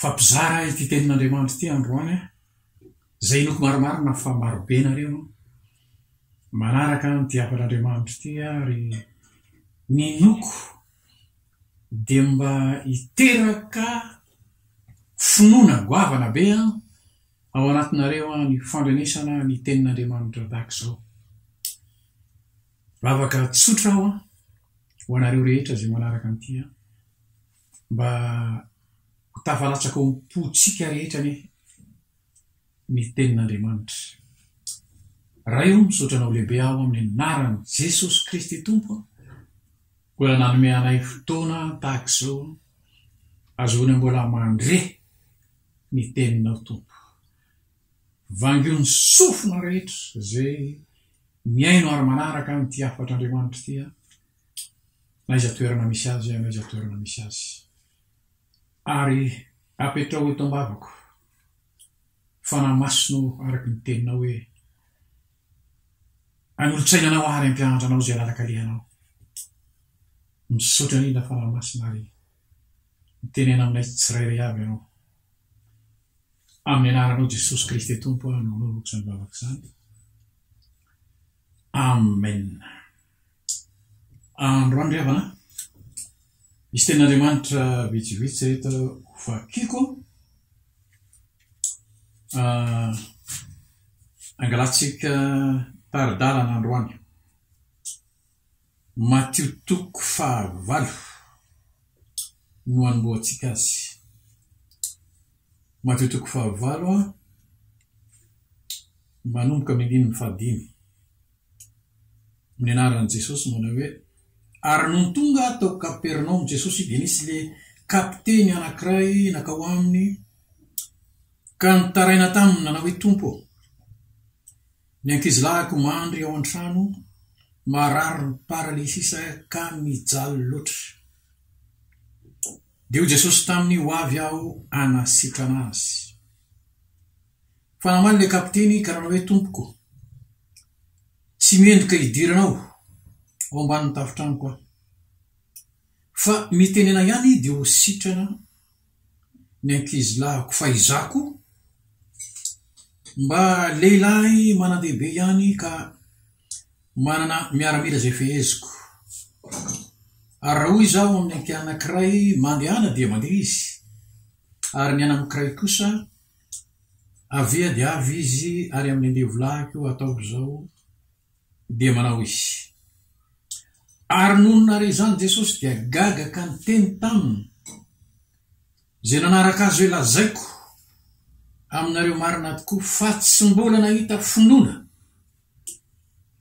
Fa mpizara ity tenin'Andriamanitra ity androany aho, izay inoako marimarina fa marobe ianareo no manaraka an'ity hafan'Andriamanitra ity ary ny inoako dia mba hiteraka finoana goavana be ao anatinareo ny fandrenesana ny tenin'Andriamanitra tahaka izao. Vavaka tsotra aho ho anareo rehetra izay manaraka an'ity aho. Mba ho tafalatsaka ao am-pontsika rehetra anie ny tenin'Andriamanitra. Ray ô, misaotra Anao lehibe aho amin'ny anaran'i Jesosy Kristy Tompo a! Mbola nanome anay fotoana tahaka izao ahazoana mbola mandre ny teninao Tompo. Vangio ny sofina rehetra izay mihaino ary manaraka an'ity hafatr'Andriamanitra ity a! aiza toerana misy azy an aiza toerana misy azy ary apetraho eto ambavako fanahy masina o araky ny teninao hoe anolotsaina anao ary ampianatra anao izay lalakalehanao misaotra indrindra fanahy masina ary mitenena aminay tsirairay avy ianao amin'ny anaranao jesosy kristy tompo aho no anaovako izany vavaka izany amen Androany ry havana, misy tenin'Andriamanitra vitsivitsy ry reto ho vakiko an, angalantsika tari-dalana androany. Matio toko fahavalo no anombohantsika azy. Matio toko fahavalo an, manomboka amin'ny andininy fahadimy. Nianaran'i Jesosy manao hoe, Ary nony tonga tao Kapernaomy Jesosy dia nisy le kapiteny anankiray nankao aminy ka nitaraina taminy nanao hoe, Tompo ô, ny ankizilahiko mandry ao an-trano marary ny paralysisa ka mijaly loatra. Dia hoy Jesosy taminy, Hoavy aho hanasitrana azy. Fa namaly ilay kapiteny ka nanao hoe, Tompoko, tsy mendrika hidirana ao ao ambanin'ny tafon-tranoko aho. Fa mitenena ihany dia ho sitrana ny ankizilahiko. Fa izaho koa mba lehilahy manan-dehibe ihany ka manana miaramila izay feheziko. Ary raha hoy izaho amin'ny ankianankiray, Mandehana, dia mandeha izy, ary ny ananankiray kosa, Avia dia avy izy ary amin'ny andevo-lahy koa ataovy izao, dia manao izy. Ary nony nare izany Jesosy dia gaga ka niteny taminy, Izay nanaraka azy hoe lazaiko aminareo marina tokoa fa tsy mbola nahita finoana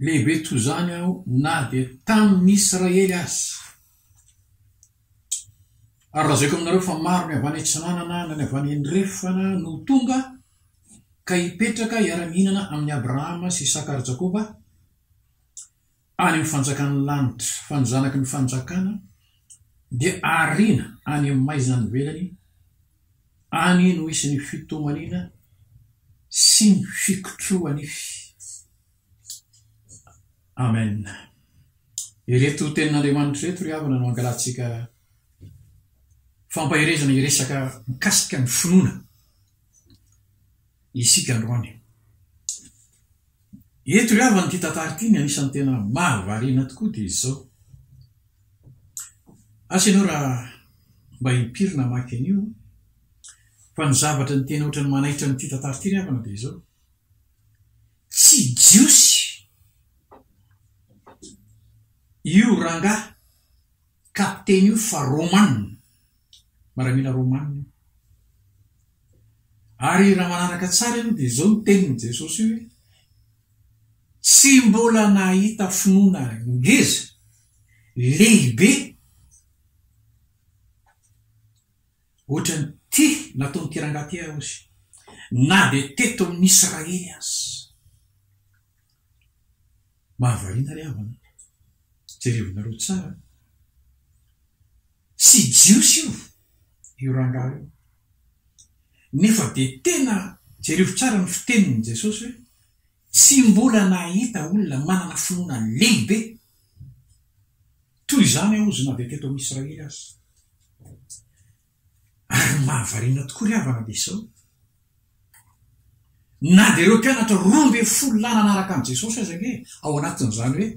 lehibe toy izany aho na dia tamin'ny Israely aza. Ary lazaiko aminareo fa maro ny avy any atsinanana na ny avy any andrefana no ho tonga, ka hipetraka hiara-mihinana amin'i Abrahama sy Isaka ary Jakoba, any amin'ny fanjakan'ny lanitra, fa ny zanaky ny fanjakana dia ariana any amin'ny maizina any ivelany, any no hisy ny fitomaniana sy ny fikotrohan'ny. Amen. Ireto tenin'Andriamanitra ireto ry havana no angalantsika fampaherezana hiresaka mikasika ny finoana isika androany. Eto ry havana ity tantara ity ny anisan'ny tena mahavariana tokoa dia izao. Asa ianao raha mba impiry namaky an'io fa ny zavatra ny tena ohatran'ny manaitra an'ity tantara ity ry havana dia izao. Tsy jiosy io rangahy kapiteny io fa Romana, miaramila Romana io. Ary raha manaraka tsara ianao dia izao no tenin'i Jesosy hoe, Tsy mbola nahita finoana ngeza, lehibe, Ohatrany ty nataon'ity rangahy ty aho ozy na de teto amin'ny Israely aza. Mahavariana ry havana a! Jerevinareo tsara a! Tsy jiosy io io rangahy io nefa de tena jerevo tsara ny fitenin'i Jesosy hoe tsy mbola nahita olona manana finoana lehibe. Toy izany aho ozy na dia teto amin'i Israely aza. Ary ny mahavariana tokoa ry havana dia izao, na dia ireo mpianatra roa ambin'ny folo lahy nanaraka an'i Jesosy aza ange ao anatin'izany hoe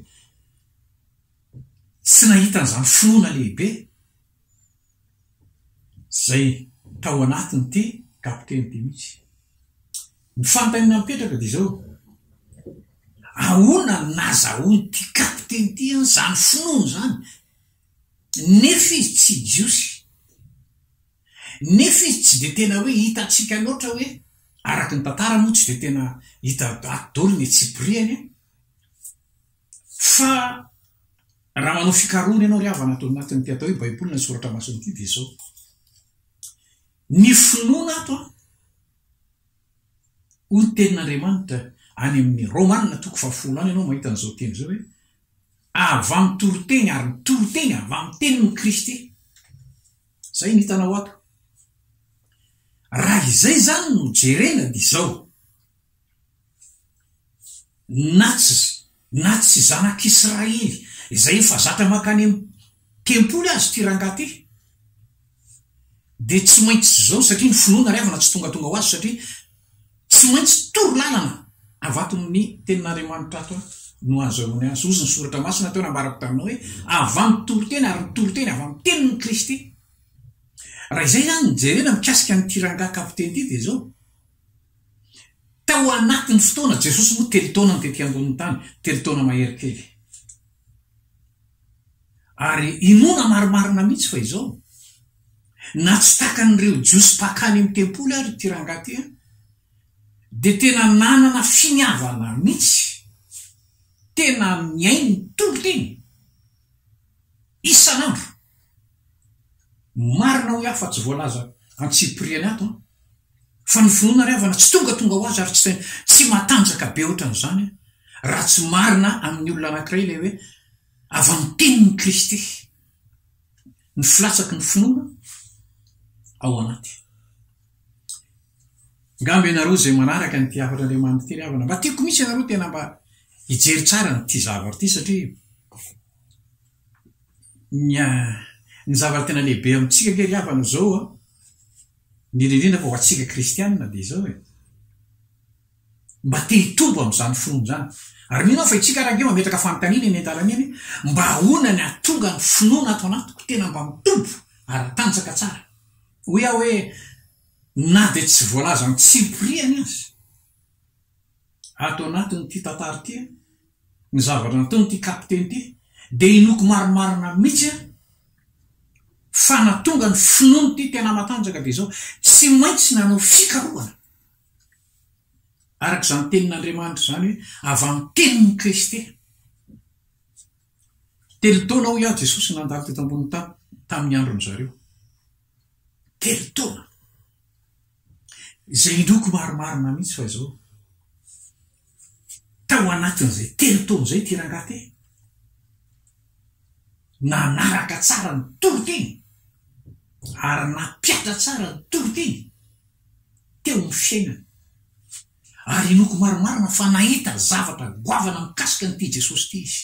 tsy nahita an'izany finoana lehibe izay tao anatin'ity kapiteny ity mihitsy. Ny fanontaniana mipetraka dia izao, ahoana no nahazahoan'ity kapiteny ity an'izany finoana izany nefa izy tsy jiosy, nefa izy tsy dia tena hoe hitantsika loatra hoe, araka ny tantara moa tsy dia tena hita ato daholo ny antsipiriany an! Fa raha manao fikarohana ianao ry havana ato anatin'ity atao hoe Baiboly na ny Soratra Masina ity dia izao ny finoana ato an, hoy ny tenin'Andriamanitra any amin'ny Romana toko fahafolo any ianao mahita an'izao teny izao hoe avy amin'ny toriteny ary ny toriteny avy amin'ny tenin'i Kristy. Izay no hitanao ato. Raha izay izany no jerena dia izao. na tsy na tsy zanak'Israely izay efa zatra mankany amin'ny tempoly aza ity rangahy ity dia tsy maintsy izao satria ny finoana ry havana tsy tongatonga ho azy satria tsy maintsy toro lalana avy ato amin'ny tenin'Andriamanitra ato no hahazoany azy hozy ny soratra masina teo nambarako taminao hoe avy amin'ny toriteny ary ny toriteny avy amin'ny tenin'i Kristy raha izay izany ny jerena mikasika an'ity rangahy kapiteny ity dia izao Tao anatin'ny fotoana, Jesosy moa telo taona no tety ambonin'ny tany, telo taona mahery kely. Ary inoana marimarina mihitsy fa izao, na tsy takan'ireo Jiosy mpakany amin'ny tempoly ary ity rangahy ity, dia tena nanana finiavana mihitsy, tena mihaino ny Tompo teny isan'andro. Marina hoy aho fa tsy voalaza antsipiriany ato an! Fa ny finoana ry havana tsy tongatonga ho azy ary tsy tsy matanjaka be ohatran'izany raha tsy marina amin'ny olona anankiray ilay hoe avy amin'ny tenin'i Kristy ny filatsaky ny finoana ao anaty. Ngamba ianareo izay manaraka an'ity hafatr'Andriamanitra ity ry havana mba tiako mihitsy ianareo tena mba hijery tsara an'ity zavatra ity satria ny zavatra tena lehibe amintsika ange ry havana izao an, Indrindra indrindra fa ho antsika kristiana dia izao e. Mba te hitombo amin'izany finoana izany. Ary mino aho fa itsika ara-dia mametraka fanontaniana eny an-dalana eny hoe, mba ahoana ny hahatonga ny finoana ato anatiko tena mba mitombo ara-tanjaka tsara. Hoy aho hoe, na dia tsy voalazan'ny tsilo mpiriany aza. ato anatin'ity tantara ity an, ny zavatra nataon'ity kapiteny ity dia inoako marimarina mihitsy an, fa natonga ny finoan'ity tena matanjaka dia izao, tsy maintsy nanao fikarohana, araka izany tenin'Andriamanitra izany hoe, avy amin'ny tenin'i Kristy. Telo taona hoy aho Jesosy nandalo teto ambonin'ny tany tamin'ny andron'izareo. telo taona. Izay indroako marimarina mihitsy fa izao, tao anatin'izay telo taona izay ity rangahy ity, nanaraka tsara ny toriteny ary nampihatra tsara ny toriteny teo amin'ny fiainany. Ary inoako marimarina fa nahita zavatra goavana mikasika an'ity Jesosy ity izy.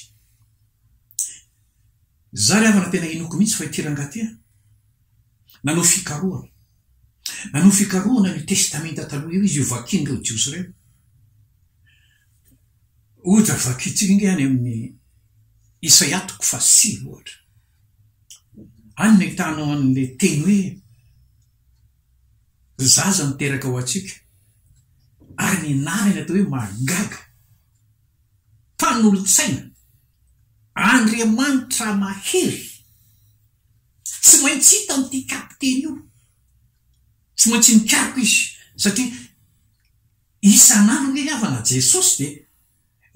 Za ry havana tena inoako mihitsy fa ity rangahy ity an! Nanao fikarohana. Nanao fikarohana an'io testamenta taloha io izy io vakian'ireo Jiosy ireo. Ohatra vakintsika ange any amin'ny Isaia toko fahasivy ohatra. Any no ahitanao an'ilay teny hoe zaza niteraka ho antsika ary ny anarany atao hoe mahagaga. mpanolotsaina Andriamanitra mahery tsy maintsy hitan'ity kapiteny io tsy maintsy nikaroka izy satria isan'andro anie ny havana Jesosy dia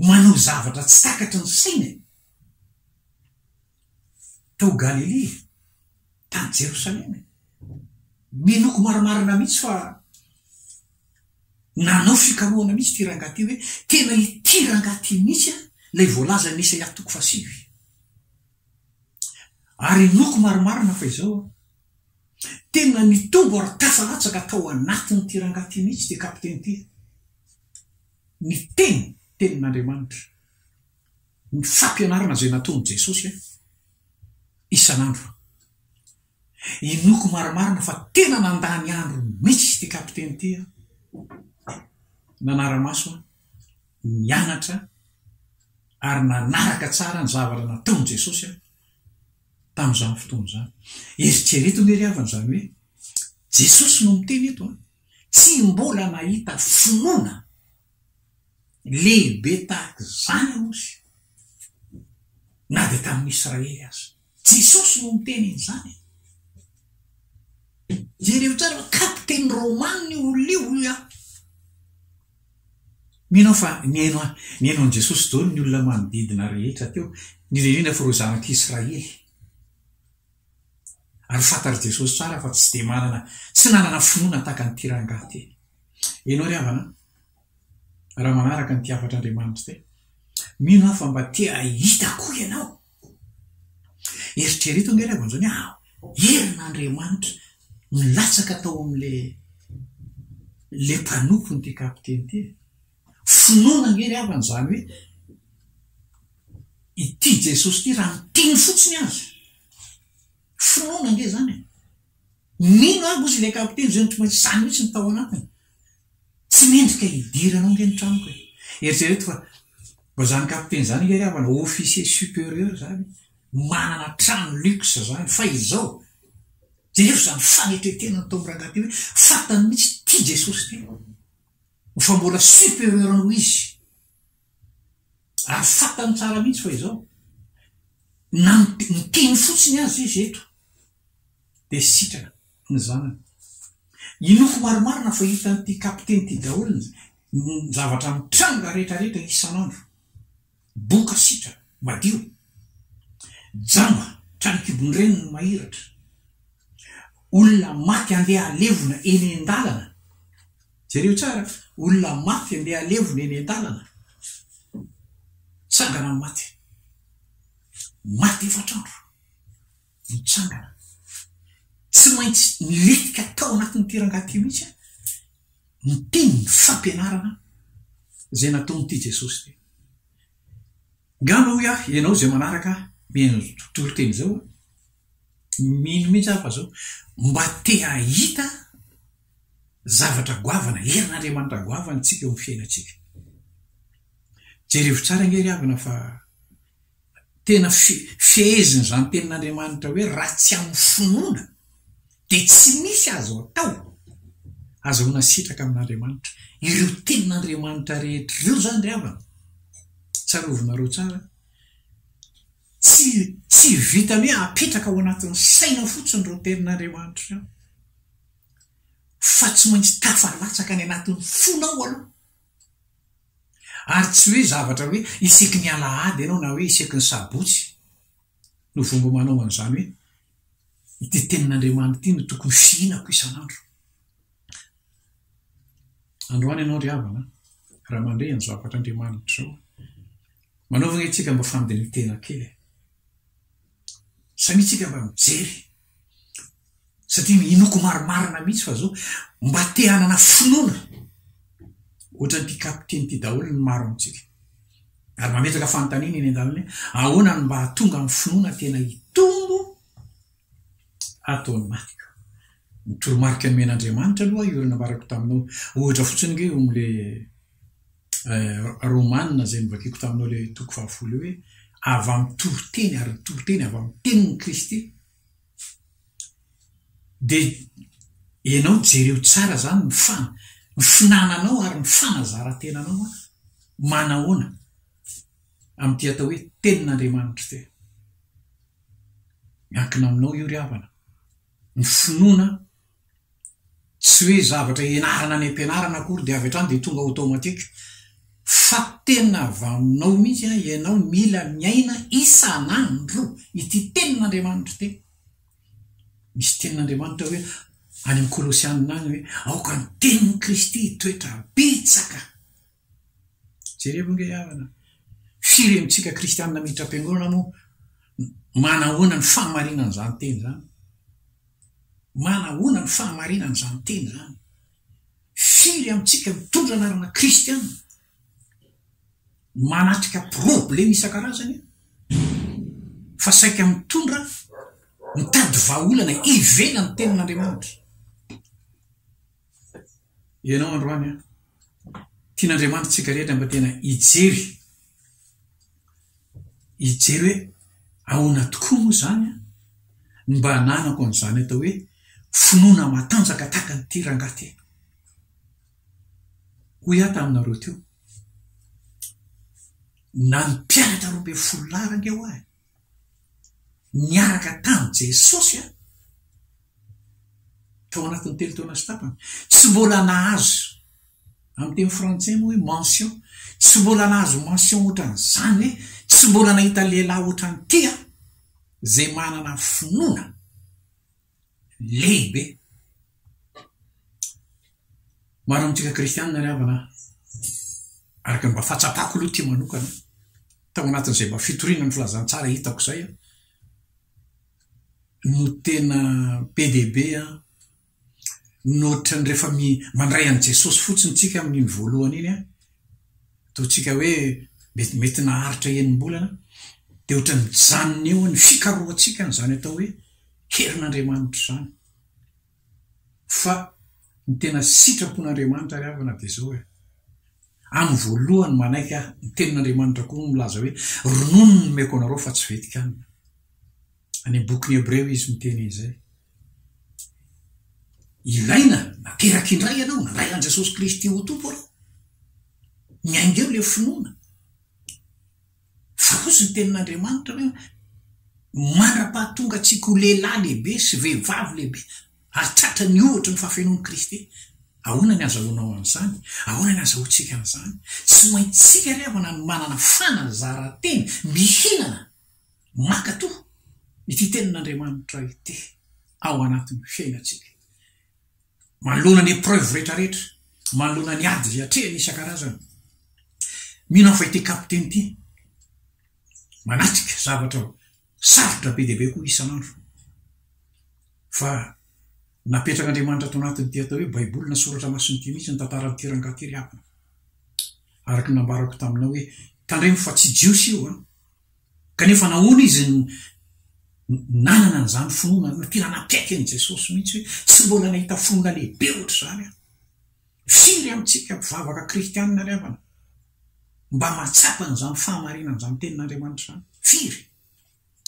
manao zavatra tsy takatry ny saina e. tao Galilia, tany Jerosalema e. Minoako marimarina mihitsy fa nanao fikarohana mihitsy ity rangahy ity hoe tena ity rangahy ity mihitsy an, ilay voalazan'i Isaia toko fahasivy. Ary inoako marimarina fa izao an, tena nitombo ary tasa latsaka tao anatin'ity rangahy ity mihitsy ity kapiteny ity ny teny, tenin'Andriamanitra. ny fampianarana izay nataon'i Jesosy ahy isan'andro. Inoako marimarina fa tena nandany andro mihitsy ity kapiteny ity aho. Nanara-maso aho, nianatra ary nanaraka tsara ny zavatra nataon'i Jesosy aho tamin'izany fotoana izany. Eritrereto ve ry havana izany hoe Jesosy no miteny eto? Tsy mbola nahita finoana. lehibe tahaka izany aozy na dia tamin'ny Israely aza. Jesosy no niteny an'izany e! Jereo tsara fa kapiteny romanina io olona io hoy aho. Mino aho fa nihaino nihaino an'i Jesosy daholo ny olona manodidina rehetra teo, indrindra indrindra fa ireo zanak'Israely. Ary fantatr'i Jesosy tsara fa tsy dia manana, tsy nanana finoana tahaka an'ity rangahy ity. Ianao ry havana an, raha manaraka an'ity hafatr'Andriamanitra ity, mino aho fa mba te hahita koa ianao. Eritrereto ange ry havana izany hoe herin'Andriamanitra nilatsaka tao amin'ilay ilay mpanompony ity kapiteny ity e. Finoana ange ry havana izany hoe ity Jesosy ity raha miteny fotsiny aza. Finoana ange izany e! Mino aho ozy ilay kapiteny izay no tsy maintsy izany mihitsy no tao anatiny. Tsy mendrika hidiranao ange ny tranoko e! Eritrereto fa mba izany kapiteny izany ange ry havana officier supérieur izany manana trano luxe izany fa izao. Jereo izany fanetren-tena nataon'i Rangahy ity hoe fantany mihitsy ity Jesosy ity. Fa mbola superieur noho izy. Ary fantany tsara mihitsy fa izao. Na ny teny fotsiny aza izy eto dia sitrana ny zanany. Inoako marimarina fa hitan'ity kapiteny ity daholo ny zavatra mitranga rehetra rehetra isan'andro. Boka sitra madio. Jamba trano kibon'ny reniny no mahiratra. Olona maty andeha halevona eny an-dalana. Jereo tsara, olona maty andeha halevona eny an-dalana. Tsangana ny maty. Maty efatra andro. Mitsangana. Tsy maintsy milentika tao anatin'ity rangahy ity mihitsy ny tim, ny fampianarana izay nataon'ity Jesosy ity. Ngamba hoy aho, ianao izay manaraka ny toriteny izao, mino mihitsy aho fa izao, mba te hahita zavatra goavana, herin'Andriamanitra goavana isika eo amin'ny fiainantsika. Jerevo tsara ange ry havana fa. tena fehezin' izany tenin' Andriamanitra hoe raha tsy amin'ny finoana dia tsy misy azo atao, azahoana sitraka amin' Andriamanitra. Ireo tenin' Andriamanitra rehetra ireo izany ry havana, tsarovinareo tsara, tsy tsy vitan'ny hoe apetraka ao anatin'ny saina fotsiny ireo tenin' Andriamanitra ireo fa tsy maintsy tafalatsaka any anatin'ny fonao aloha. Ary tsy hoe zavatra hoe isaky ny alahady ianao na hoe isaky ny sabotsy no vongo manao an'izany hoe, ity tenin'Andriamanitra ity no tokony fihinako isan'andro. Androany ianao ry havana an, raha mandre an'izao hafatr'Andriamanitra izao an, manaovana isika mba fandirin-tena kely e. Samia tsika mba mijery satria minoako marimarina mihitsy fa zao mba te hanana finoana ohatran' ity kapiteny ity daholo ny maro amintsika. Ary mametraka fanontaniana eny an-dalana hoe ahoana no mba hahatonga amin'ny finoana tena hitombo ato amin'atika. Ny toromarika nomen'Andriamanitra aloha io ry nambarako taminao ohatra fotsiny nge io amin'ilay Romana izay novakiko taminao ilay toko fahafolo io hoe avy amin'ny toriteny ary ny toriteny avy amin'ny tenin'i Kristy dia ianao jereo tsara izany ny fa ny finananao ary ny fanazaran-tenanao a manahoana amin'ity atao hoe tenin'Andriamanitra ity miankina aminao io ry havana ny finoana tsy hoe zavatra ianarana any am-pianarana akory dia avy hatrany dia tonga automatique fa tena vaninao mihitsy an ianao mila miaina isan'andro ity tenin'Andriamanitra ity misy tenin'Andriamanitra hoe any amin'ny kolosianina any hoe aoka ny tenin'i Kristy hitoetra betsaka Jerevo ange havana, firy amintsika kristianina miditra am-piangonana moa manahoana ny fahamarinan'izany teny izany? Manahoana ny fahamarinan'izany teny izany? Firy amintsika mitondra anarana kristianina manatrika probleme isan-karazany fa saika mitondra mitady vahaolana ivelan'ny tenin'Andriamanitra? Ianao androany an! Tian'Andriamanitra antsika rehetra mba tena hijery, hijery hoe ahoana tokoa moa izany an! Ny mba ananako an'izany atao hoe finoana matanjaka tahaka an'ity rangahy ity. Hoy aho taminareo teo, na ny mpianatra roa ambin'ny folo lahy rangeo ahy, niaraka tamin'i Jesosy tao anatin'ny telo taona sy tapany. Tsy mbola nahazo, amin'ny teny frantsay moa hoe mention, tsy mbola nahazo mention ohatran'izany hoe tsy mbola nahita lehilahy ohatran'ity aho, izay manana finoana lehibe. Maro amintsika kristianina ry havana an! Araka ny mba fahatsapako aloha ity manokana an, tao anatin'izay mba fitoriana ny filazantsara hitako izay an, no tena be dia be an, mihoatra ny rehefa mi, mandray an'i Jesosy fotsiny tsika amin'iny voalohany iny an, ataontsika hoe mety mety naharitra enim-bolana, dia ohatra ny mijanona eo ny fikarohantsika an'izany atao hoe herin'Andriamanitra izany. Fa ny tena sitrapon'Andriamanitra ry havana dia izao e, amin'ny voalohany manaiky aho, ny tenin'Andriamanitra koa no milaza hoe, ronono no nomeko anareo fa tsy vetikanina. Any amin'ny bokin'ny Hebreo izy miteny izay. Ilaina nateraka indray ianao, nandray an'i Jesosy Kristy ho Tompo ianao. Miainga eo ilay finoana. Fa kosa ny tenin'Andriamanitra hoe mandra-pahatongantsika ho lehilahy lehibe sy vehivavy lehibe ary tratra ny ohatry ny fahafenoan'i Kristy. Ahoana ny azahoanao an'izany? Ahoana ny azahoantsika an'izany? Tsy maintsika ry havana no manana fanazaran-tena mihinana mankato ity tenin'Andriamanitra ity ao anatin'ny fiainantsika. Manoloana ny épreuve rehetra rehetra, manoloana ny ady izay atrehiny isan-karazany, mino aho fa ity kapiteny ity manatrika zavatra sarotra be dia be koa isan'andro, fa napetrak'Andriamanitra ato anatin'ity atao hoe baiboly na soratra masina ity mihitsy ny tantaran'ity rangahy ity ry havana, araka ny nambarako taminao hoe tandremo fa tsy jiosy io an! Kanefa nahoana izy no nanana an'izany finoana hoe tena nakaiky an'i Jesosy mihitsy hoe tsy mbola nahita finoana lehibe hoatr'izany aho? Firy amintsika mpivavaka kristianina ry havana no mba mahatsapa an'izany fahamarinan'izany Tenin'Andriamanitra izany? Firy?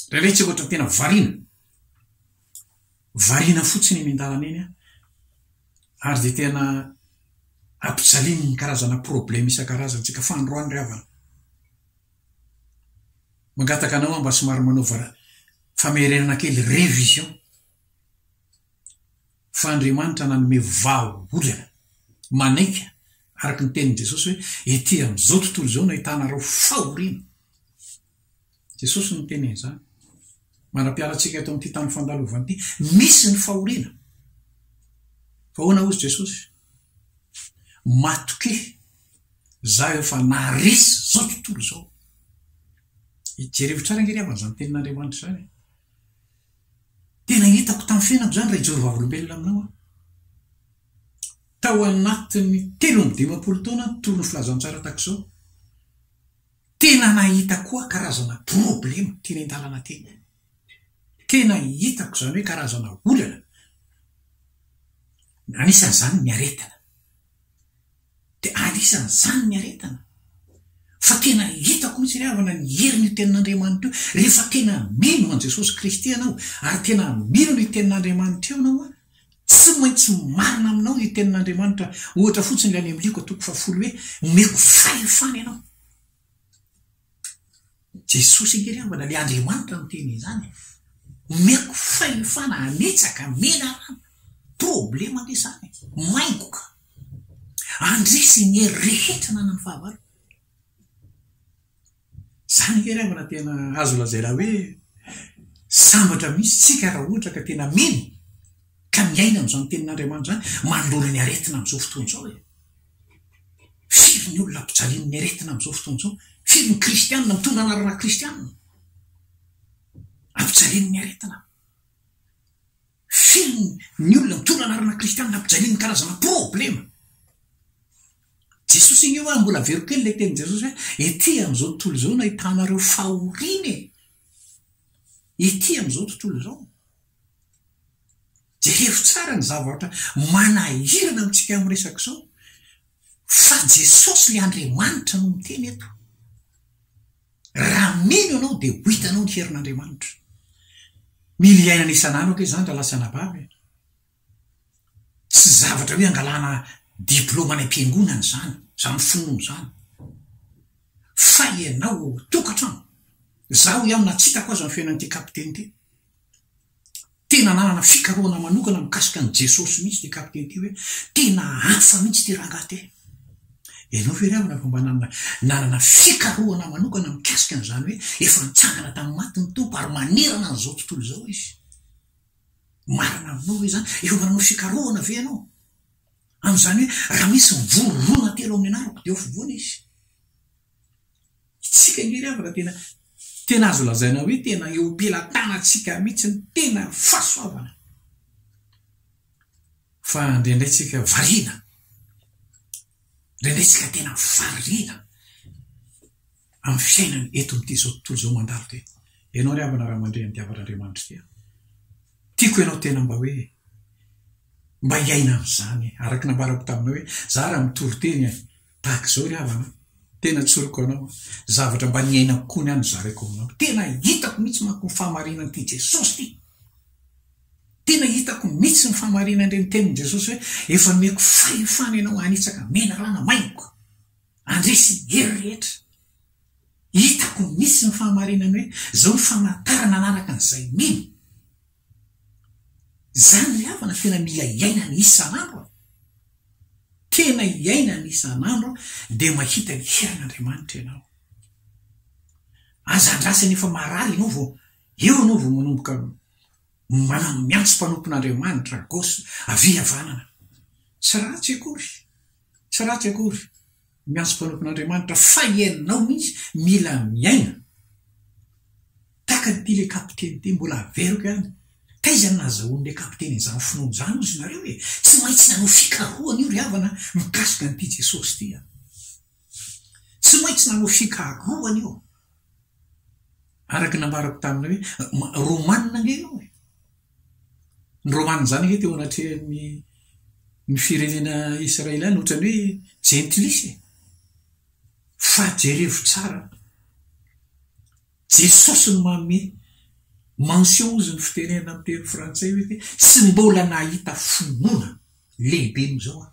Indraindray tsy ohatra tena variana, variana fotsiny eny an-dalana eny aho, ary dia tena ampijalian'ny karazana problème isan-karazany isika fa androany ry havana, Mangataka anao aho mba somary manaova famerenana kely, révision, fa Andriamanitra nanome vahaolana manaiky araka ny tenin'i Jesosy hoe, ety amin'izao tontolo izao no ahitanareo fahoriana. Jesosy no niteny an'izany. Manam-piala antsika eto amin'ity tany fandalovana ity. Misy ny fahoriana. Fa ahoana hozy Jesosy? Matokia Izaho efa naharesy izao tontolo izao. Jereo tsara ange ry havana izany tenin'Andriamanitra izany e. Tena hitako tamin'ny fiainako izany raha hijery vavolombelona aminao aho. Tao anatin'ny telo amby dimampolo taona nitory ny filazantsara tahaka izao, tena nahita koa karazana problema teny an-dalana teny. Tena hitako izany hoe karazana olana, anisan'izany ny aretina. dia anisan'izany ny aretina. Fa tena hitako mihitsy ry havana ny herin'io Tenin'Andriamanitra io, rehefa tena mino an'i Jesosy Kristy ianao, ary tena mino ny Tenin'Andriamanitra eo ianao, tsy maintsy marina aminao io Tenin'Andriamanitra, ohatra fotsiny ilay any amin'ny Lioka toko fahafolo hoe, Omeko fahefana ianao. Jesosy ange ry havana, le Andriamanitra no tena izany e! Omeko fahefana hanetsaka menarana, problema ange izany e! Maingoka, handresy ny hery rehetra ananan'ny fahavaloko. Izany ange ry havana tena azo lazaina hoe sambatra mihitsy tsika raha ohatra ka tena mino ka miaina amin'izany tenin'Andriamanitra izany, mandona ny aretina amin'izao fotoana izao e! Firy ny olona ampijalian'ny aretina amin'izao fotoana izao? Firy ny kristiana mitondra anarana kristiana ampijalian'ny aretina? Firy ny olona mitondra anarana kristiana ampijalian'ny karazana problema? Jesosy anie hoe mbola averiko kely ilay tenin'i Jesosy hoe ety amin'izao tontolo izao no ahitanareo fahoriana e! Ety amin'izao tontolo izao. Jereo tsara ny zavatra manahirana amintsika amin'izao resaka izao, fa Jesosy ilay Andriamanitra no miteny eto. Raha mino ianao dia ho hitanao ny herin'Andriamanitra. Mila iainana isan'andro ange izany rahalahy sy anabavy e! Tsy zavatra hoe angalana diplaoma any am-piangonana izany, izany finoana izany. Fa ianao ao an-tokantrano. Izaho ihany na tsy hitako aza ny fiainan'ity kapiteny ity. Tena nanana fikarohana manokana mikasika an'i Jesosy mihitsy ity kapiteny ity hoe tena hafa mihitsy ity rangahy ity. Ianao ve ry havana fa mba nanana fikarohana manokana mikasika an'izany hoe efa nitsangana tamin'ny maty ny Tompo ary manerana an'izao tontolo izao Izy? Marina aminao ve izany? Efa mba nanao fikarohana ve ianao? Amin'izany hoe raha misy mivory roa na telo ao amin'ny anarako dia ao afovoany Izy. Isika nge ry havana tena tena azo lazaina hoe tena eo am-pelatanantsika mihitsy ny tena fahasoavana fa indraindray tsika variana indraindray tsika tena variana amin'ny fiainana eto amin'ity izao tontolo izao mandalo ty ianao ry havana raha mandre ny diavan'Andriamanitra ity tiako ianao tena mba hoe mba hiaina amin'izany araka ny nambarako taminao hoe za raha mitory teny Tahaka izao ry havana an! Tena tsoriko anao an! Zavatra mba niainako koa ny ahy no zaraiko aminao. Tena hitako mihitsy manko ny fahamarinan'ity Jesosy ity. Tena hitako mihitsy ny fahamarinan'ireny tenin'i Jesosy hoe, Efa nomeko fahefana ianao hanitsaka menarana maingoka. Handresy hery rehetra. Hitako mihitsy ny fahamarinany hoe, Izao ny famantarana anaraka an'izay mino. Izany ilay havana tena mila iainana isan'andro an! Tena iainana isan'andro an, dia mahita ny heran'Andriamanitra ianao. Aza andrasana efa marary ianao vao eo ianao vao manomboka manano miantso mpanompon'Andriamanitra an! Gauche, avia havanana! Tsy ratsy akory! Tsy ratsy akory! Miantso mpanompin'Andriamanitra fa ianao mihitsy mila miaina tahaka ny tian'ilay kapiteny teo, mbola averiko ihany, taiza no nahazahoan'ilay kapiteny an'izany finoana izany hozy nareo e? Tsy maintsy nanao fikarohana io ry havana mikasika an'ity Jesosy ity a! Tsy maintsy nanao fikarohana io, araka ny nambarako taminy hoe Romanina ange ianao e! Ny Romanina-izany ange teo anatrehan'ny ny firenena Israeliana ohatran'ny hoe jentilisa e! Fa jerevo tsara, Jesosy no manome mention hozy ny fitenenana amin'ny teny frantsay hoe tsy mbola nahita finoana lehibe noho izao aho,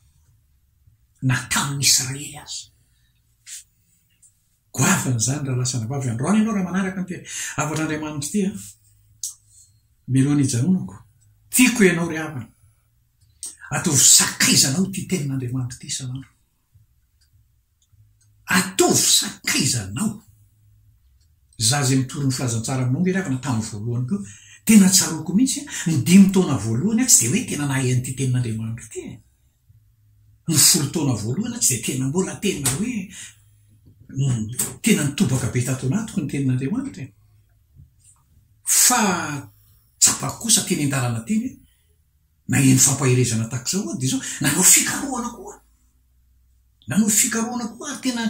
na tamin'ny Israely aza. Goavana izany raha lasa anabavy eo androany ianao raha manaraka an'ity hafatr'Andriamanitra ity an! Mialoha ny hijanonako, tiako ianao ry havana. Ataovy sakaizanao ity tenin'Andriamanitra ity isan'andro. Ataovy sakaizanao. Izaho izay mitory ny filazantsara aminao nge ry havana tamin'ny voalohany koa, tena tsaroako mihitsy an! Ny dimy taona voalohany an, tsy dia hoe tena nahay an'ity tenin'Andriamanitra ity e! ny folo taona voalohany aho tsy dia tena mbola tena hoe tena nitobaka be tato anatiko ny teny nareo anitra e! fa tsapako kosa teny an-dalana teny hoe naheno fampaherezana tahaka izao aho dia izao nanao fikarohana koa aho nanao fikarohana koa ary tena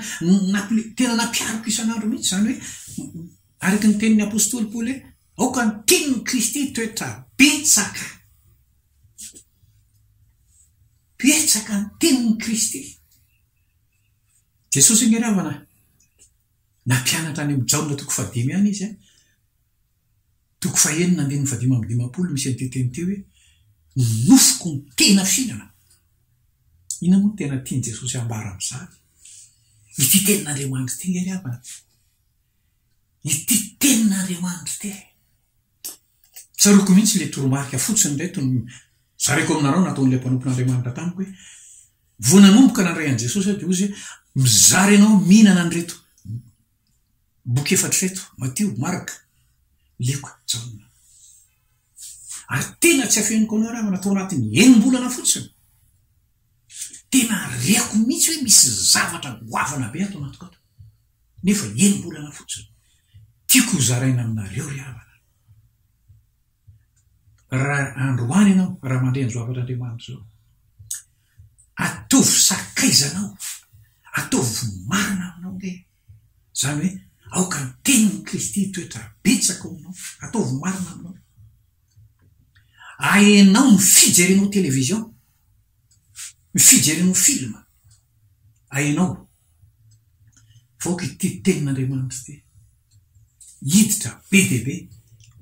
nampile tena nampiariko isan'andro mihitsy izany hoe araka ny tenin'ny apostoly paoly hoe aoka ny tian'i kristy toetra betsaka Betsaka ny tenin'i Kristy. Jesosy ange raha vao nampianatra any amin'i Jaona toko fahadimy ihany Izy an, toko fahenina andininy fahadimy amby dimampolo misy an'ity teny ity hoe, Ny nofoko no tena fihinana. Inona moa no tena tian'i Jesosy hambara amin'izany? Ity tenin'Andriamanitra ity ange ry havana. Ity tenin'Andriamanitra ity. Tsaroako mihitsy ilay toromarika fotsiny ireto no zaraiko aminareo nataon'ilay mpanompon'Andriamanitra tamiko hoe, Vao nanomboka nandray an'i Jesosy aho dia hozy hoe, Mizara ianao mihinana an'ireto boky efatra ireto, Matio, Marka, Lioka, Jaona. Ary tena tsy afeniko anao ianareo, natao anatin'ny enim-bolana fotsiny. Tena reko mihitsy hoe misy zavatra goavana be ato anatiko ato. Nefa enim-bolana fotsiny. Tiako ho zaraina aminareo ry havana. Ra androany ianao, raha mandre an'izao hafatr'Andriamanitra izao, ataovy sakaizanao, ataovy marina aminao ve Izany hoe aoka ny tenin'i Kristy hitoetra betsaka ao aminao, ataovy marina aminao. Ahenao ny fijerenao television, ny fijerenao film. Ahenao fa aoka ity tenin'Andriamanitra ity hiditra be dia be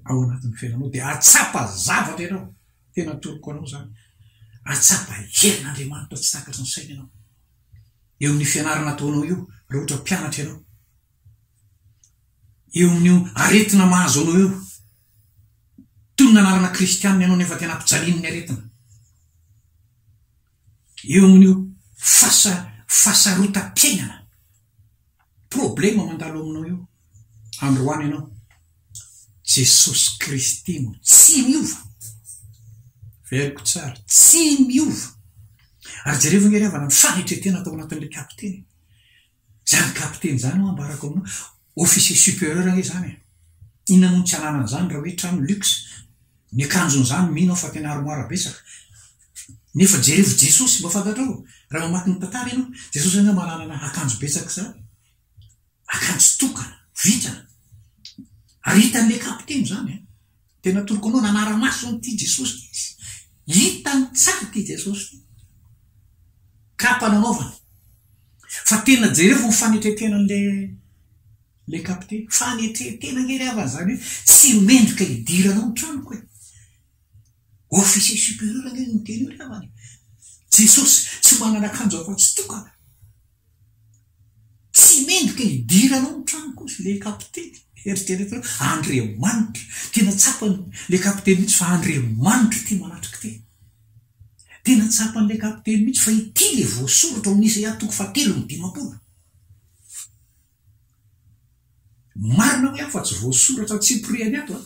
ao anatin'ny fiainanao dia hahatsapa zavatra ianao, tena atoroko anao izany, hahatsapa herin'Andriamanitra tsy takatry ny saina ianao. eo amin'ny fianarana ataonao io raha ohatra mpianatra ianao, eo amin'io aretina mahazo anao io, toy ny nanarana kristianina ianao nefa tena mpijalian'ny aretina, eo amin'io fasa fasarotam-piainana. Problema mandalo aminao io androany ianao. Jesosy Kristy no tsy miova. Veriko tsara, tsy miova. Ary jerevo ange ry havana ny fanetretena tao anatin'ilay kapiteny. Izany kapiteny izany ho'a ambarako aminao, officier superieur ange izany e. Inona moa no tsy ananany izany raha hoe trano luxe. Ny akanjon'izany mino aho fa tena armoire betsaka. Nefa jerevo Jesosy mba fantatrao raha mamaky ny tantara ianao. Jesosy ange mba nanana akanjo betsaka izany. Akanjo tokana, vintana. Ary hitan'ilay kapiteny izany an. Tena atoroko anao nanara-maso an'ity Jesosy ity izy. Hitany tsara ity Jesosy ity. Kapa nanaovany. Fa tena jerevo ny fanetretenan'ilay Ilay kapiteny, fanetren-tena ange ry havana izany hoe tsy mendrika hidiranao ny tranoko e! Officier supérieur ange no niteny io ry havana e! Jesosy tsy manana akanjo afa-tsy tokana. Tsy mendrika hidiranao ny tranoko hozy ilay kapiteny. Eritrereto hoe Andriamanitra, tena tsapan'ilay kapiteny mihitsy fa Andriamanitra ity manatrika ity. Tena tsapan'ilay kapiteny mihitsy fa ity ilay voasoratra ao amin'ny Isaia toko fahatelo amby dimampolo. Marina hoe aho fa tsy voasoratra antsipiriany ato an!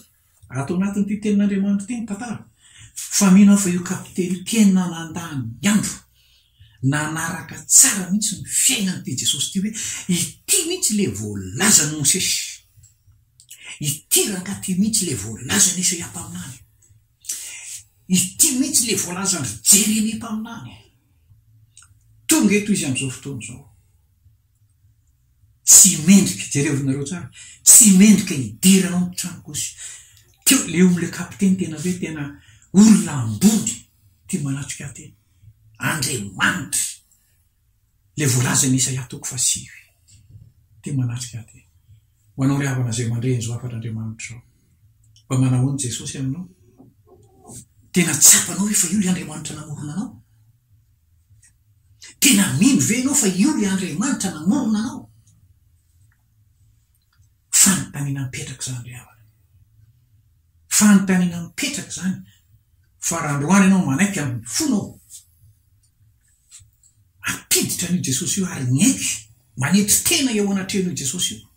Ato anatin'ity tenin'Andriamanitra ity ny tantara. Fa mino aho fa io kapiteny tena nandà ny andro, nanaraka tsara mihitsy ny fiainan'ity Jesosy ity hoe ity mihitsy ilay voalazan'i Mosesy. Ity rangahy ity mihitsy ilay voalazan'i Isaia mpaminany. Ity mihitsy ilay voalazan-dry Jeremia mpaminany. Tonga eto izy amin'izao fotoana izao. Tsy mendrika, jereo ry nareo tsara, tsy mendrika hidera anao ny tranoko izy. Teo le omby le kapiteny tena hoe tena olona ambony ity manatrika ahy ity. Andriamanitra le voalazan'i Isaia toko fahasivy ity manatrika ahy ity. Ho anao ry havana izay mandre in'izao hafatr'Andriamanitra izao. Mba manao ahoana Jesosy aminao? Tena tsapanao ve fa io le Andriamanitra namorona anao? Tena mino ve ianao fa io ry Andriamanitra namorona anao? Fanontaniana mipetraka izany ry havana. Fanontaniana mipetraka izany fa raha androany ianao manaiky amin'ny fonao hampiditra an'io Jesosy io ary miaiky manetry tena eo anatrehan'io Jesosy io,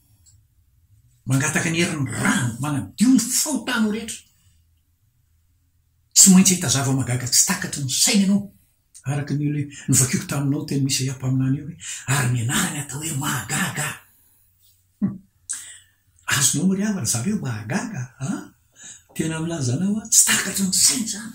mangataka ny herin'ny rany manadio ny fahotanao rehetra, Tsy maintsy hahita zava-mahagaga tsy takatry ny saina ianao, araka ny hoe novakiako taminao teo amin'ny Isaia mpaminany eo hoe, Ary ny anarany atao hoe Mahagaga. Hum. Azonao mariava ry zareo, Mahagaga an! Tena milaza anao aho, tsy takatry ny saina izany.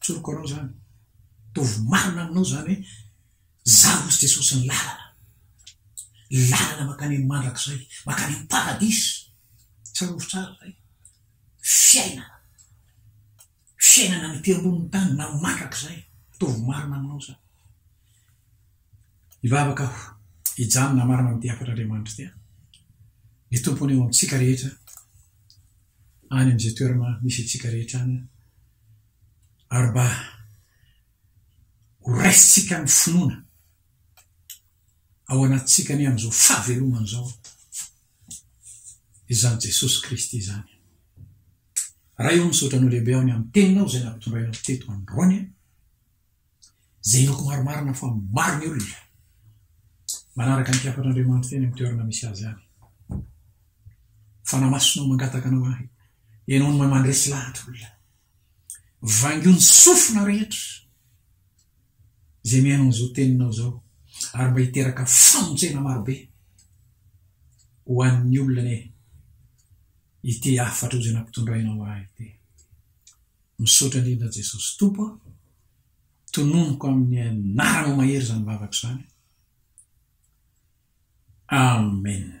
Tsoriko anao izany, ataovy marina aminao izany hoe, Izaho hozy Jesosy ny lalana, ny lalana mankany amin'ny mandrakizay, mankany amin'ny paradisa. Tsarovy tsara izay. Fiainana. Fiainana any aty ambonin'ny tany na mandrakizay. Ataovy marina aminao izany. Hivavaka aho, hijanona marina amin'ity hafatr'Andriamanitra ity. Ny Tompo anie ho amintsika rehetra. any amin'izay toerana misy antsika rehetra any ary mba horaisintsika ny finoana ao anatintsika ny amin'izao fahavelomana izao izany Jesosy Kristy izany. Ray ô misaotra anao lehibe aho ny amin'ny teninao izay nampitondrainao teto androany izay inoako marimarina fa maro ny olona manaraka ny mpiafatr'Andriamanitra eny amin'ny toerana misy azy any. Fanahy Masina ao mangataka anao ahy, ianao no mahay mandresy lahatra olona. Vaingio ny sofina rehetra izay mihaino an'izao teninao izao ary mba hiteraka famonjena marobe ho an'ny olona anie ity hafatra izay nampitondrainao ahy ity. Misaotra indrindra Jesosy Tompo a! Tononiko amin'ny anaranao mahery izany vavako izany. Amen.